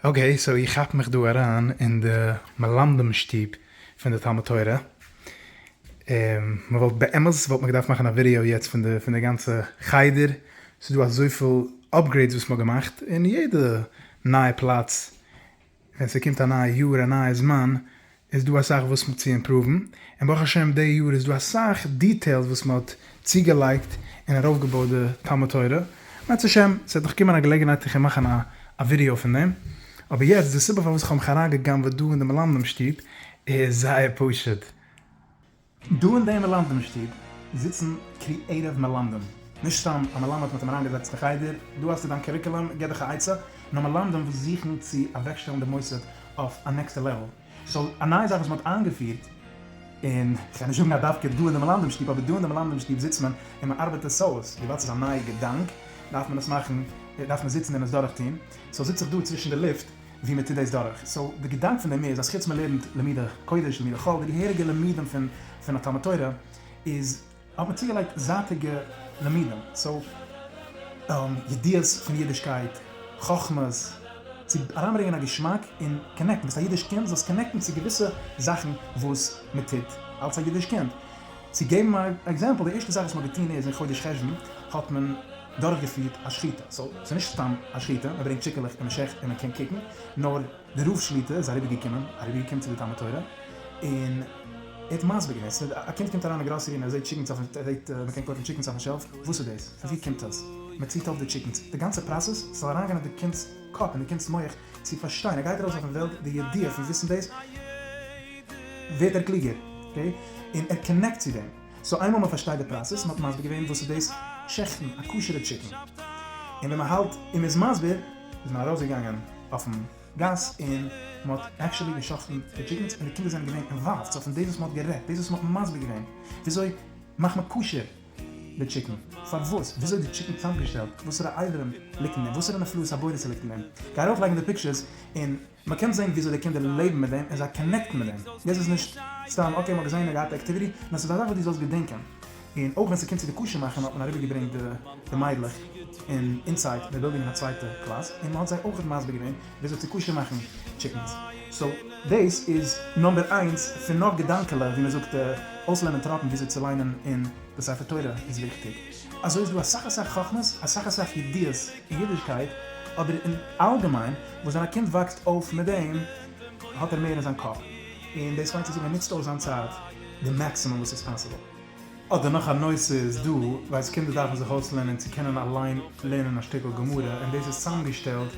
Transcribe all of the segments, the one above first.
אקעי, סאו איך כאפ מיך דא אריין אין די מלמדים שטוב פון די תלמוד תורה, און מען וואלט באמת וואלט מען געדארפט מאכן א ווידעאו יעצט פון די פון די גאנצע חדר, ס'איז דא אזויפיל אפגרעידס וואס מען האט געמאכט, און יעדע נייע פלאץ ווען ס'קומט א נייע יאר א נייע זמן איז דא אסאך וואס צו אימפראוון, און ברוך השם די יאר איז דא אסאך דיטעילס וואס מען האט צוגעלייגט און ארויפגעבויט די תלמוד תורה, בעזרת השם ס'וועט נאך קומען א געלעגנהייט איך וועל מאכן א ווידעא פון דעם, אבער יעצט די סיבה פארוואס איך האב מיך אריינגע'גנב'עט דא אין די מלמדים שטוב איז זייער פשוט, דא אין דעם מלמדים שטוב זיצן קריעטיוו מלמדים, נישט סתם א מלמד מ'האט אים אריינגעזעצט אין חדר, דא האסטו דיין קוריקולום, גיב דיך א עצה, נאר מלמדים וואס זוכן צו אוועקשטעלן די מוסד אויף א נעקסטע לעוועל, סאו א נייע זאך וואס מ'האט איינגעפירט, און כ'גיי נישט זאגן אז דווקא דא אין די מלמדים שטוב, אבער דא אין די מלמדים שטוב זיצט מען און מ'ארבעט עס אויס, וויבאלד ס'איז א נייע געדאנק דארף מען עס מאכן, דארף מען זיצן און עס דורכטון, סאו זיץ איך דא צווישן די לופט. ווי מען טוט דאס דורך, סאו די געדאנק פון דעם איז אז חוץ מען לערנט לימודי קודש לימודי חול די געהעריגע לימודים פון פון א תלמוד תורה איז האט מען צוגעלייגט זייטיגע לימודים סאו ידיעות פון אידישקייט חכמות צו אריינברענגען א געשמאק און קאנעקטן ביסט א אידיש קינד זאלסט קאנעקטן צו געוויסע זאכן וואס מען טוט אלץ א אידיש קינד צו געבן א עקזעמפל די ערשטע זאך וואס מען האט געטון איז אין חודש חשוון האט מען דורכגעפירט א שחיטה, סאו ס'איז נישט סתם א שחיטה, מען ברענגט טשיקעלעך און מען שעכט און מען קען קוקן, נאר די רב שליט א איז אריבערגעקומען אריבערגעקומען צו די תלמוד תורה און ער האט מסביר געווען, ס'איז ווי א קינד קומט אריין אין גראסערי און ער זעט טשיקנס אויפן ער זעט מען קען קויפן טשיקנס אויפן שעלף, וואס איז דאס? פון ווי קומט עס? מען ציט אויף די טשיקנס, די גאנצע פראסעס זאל אריינגיין אין די קינד'ס קאפ און די קינד'ס מח צו פארשטיין, ער גייט ארויס אויפן וועלט, די ידיעה פון וויסן דאס ווערט ער קלוגער, אקעי, און ער קאנעקט צו דעם. סאו איינמאל מען פארשטייט די פראסעס, מען האט מסביר געווען וואס איז דאס שעכטן א כשר'ע טשיקן, און ווען מען האלט און מען איז מסביר, איז מען ארויסגעגאנגען אויפן גאס און מען האט עקשעלי געשאכטן די טשיקענס, און די קינדער זענען געווען אינוואלווד, סאו פון דאס וואס מען האט גערעדט, דאס וואס מען האט מסביר געווען, וויאזוי מאכט מען כשר די טשיקן, פארוואס, וויאזוי די טשיקן צוזאמגעשטעלט, וואסערע איידערן ליגט אין אים, וואסערע נפלאות הבורא ס'ליגט אין אים, גיי ארויפלייגן די פיקטשערס און. מען קען זען וויאזוי די קינדער לעבן מיט דעם און זיי קאנעקטן מיט דעם, יעצט איז נישט סתם אקעי מען האט געזען און געהאט די עקטיוויטי, נאר ס'איז א זאך וואס דו זאלסט געדענקען, און אויך ווען ס'קומט צו די קשר מאכן האט מען אריבערגעברענגט די מיידלעך אין אינסייד די בילדינג אין א צווייטע קלאס און מען האט זיי אויך מסביר געווען וויאזוי צו קשר מאכן טשיקענס, סאו דאס איז נאמבער איינס פון נאך געדאנקעלע ווי מען זאגט אויסלערנען טראפן וויאזוי צו ליינען אין די ספר תורה איז וויכטיג. אזוי איז דא אסאך אסאך חכמות, אסאך אסאך ידיעות אין אידישקייט, אבער אין אלגעמיין וואס ווען א קינד וואקסט אויף מיט דעם האט ער מער אין זיין קאפ, און דאס מיינט צו זאגן ער נוצט אויס זיין צייט די מעקסימום וואס איז פאסיבל. אדער נאך א נושא איז דא, ווייסט קינדער דארפן זיך אויסלערנען צו קענען אליין לערנען א שטיקל גמרא, און דאס איז צוזאמגעשטעלט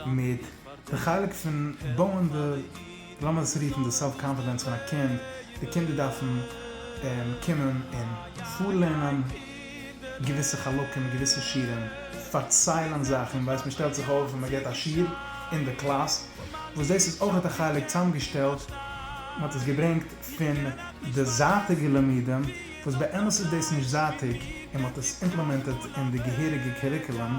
מיט די חלק פון בויען די. לאמיר עס רופן די סעלף קאנפידענס פון א קינד, די קינדער דארפן קומען און פארלערנען געוויסע חלקים, געוויסע שיעורים, פארציילן זאכן, ווייסט מען שטעלט זיך אויף און מען גיבט א שיעור אין די קלאס, וואס דאס איז אויך א חלק צוזאמגעשטעלט, מען האט עס געברענגט פון די זייטיגע לימודים, וואס באמת איז דאס נישט זייטיג, און מען האט עס אימפלעמענטעד אין די געהעריגע קוריקולום.